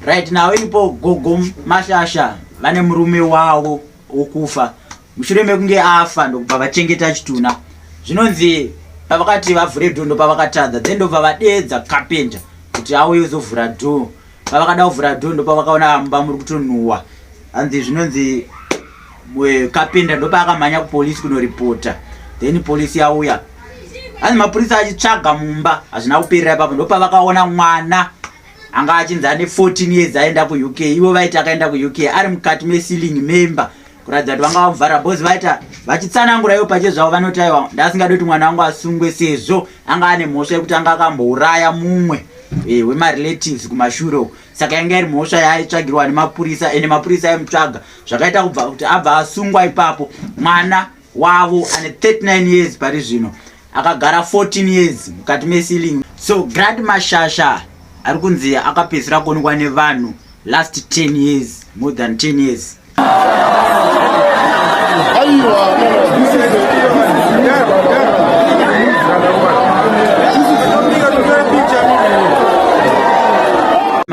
right now ipo gogo mashasha vane murume wavo wokufa mushure mekunge afa ndokubva vachengeta chitunha zvinonzi pavakati vavhure dho ndopavakatadza then ndobva vadeedza kapenta kuti auye uzovhura dhoo pavakada kuvhura dho ndopavakaona mumba muri kutonhuwa hanzi zvinonzi kapinda ndopaakamhanya kupolisi kunoripota then polisi yauya hanzi mapurisa achitsvaga mumba hazvina kuperera ipapo ndopavakaona mwana anga achinzi ane 14 years aenda kuuk ivo vaiti akaenda kuuk ari mukati meceiling memba kuratidza kuti vanga vakuvhara bhozi vaita vachitsanangura ivo pache zvavo vanoti aiwa ndasingadi kuti mwana wangu asungwe sezvo anga ane mhosva yekuti anga akambouraya mumwe e, wemarelatives kumashure uku saka yanga iri mhosva yaaitsvagirwa nemapurisa ende mapurisa aimutsvaga zvakaita kubva kuti abva asungwa ipapo mwana wavo ane 39 years pari zvino akagara 14 years mukati mesiling so grad mashasha ari kunzi akapedzisira kuonekwa nevanhu last 10 years more than 10 years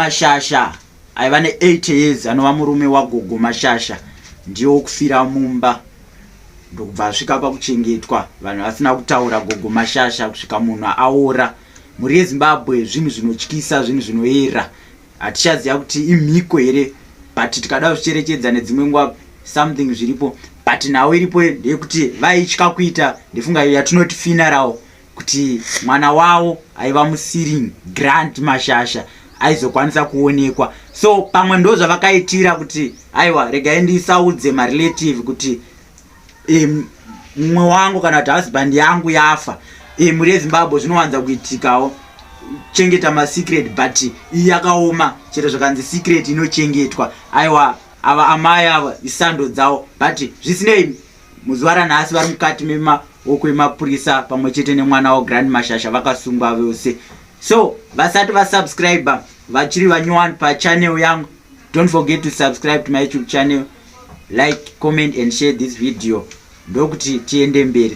mashasha aiva ne8 years anova murume wagogo mashasha ndiye wokufira mumba ndokubva asvika pakuchengetwa vanhu vasina kutaura gogo mashasha kusvika munhu aora mhuri yezimbabwe zvinhu zvinotyisa zvinhu zvinoera Hatichaziva kuti imhiko here but tikada kuzvicherechedza nedzimwe nguva something zviripo but nhau iripo ndeyekuti vaitya kuita ndefunga iyo yatinoti funeral kuti mwana wavo aiva musiring grant mashasha aizokwanisa kuonekwa so pamwe ndo zvavakaitira kuti aiwa regai ndisaudze marelative kuti mumwe wangu kana kuti husband yangu yafa e, mhuri yezimbabwe zvinowanza kuitikawo chengeta masecret but iyi yakaoma chero zvakanzi secret inochengetwa aiwa ava amai ava isando dzawo but zvisinei muzuva ranhasi vari mukati memaoko emapurisa pamwe chete nemwana wavo grand mashasha vakasungwa vose so vasati vasubscribe vachiri vanyowani pachanel yangu don't forget to subscribe to my youtube channel like comment and share this video ndokuti tiende mberi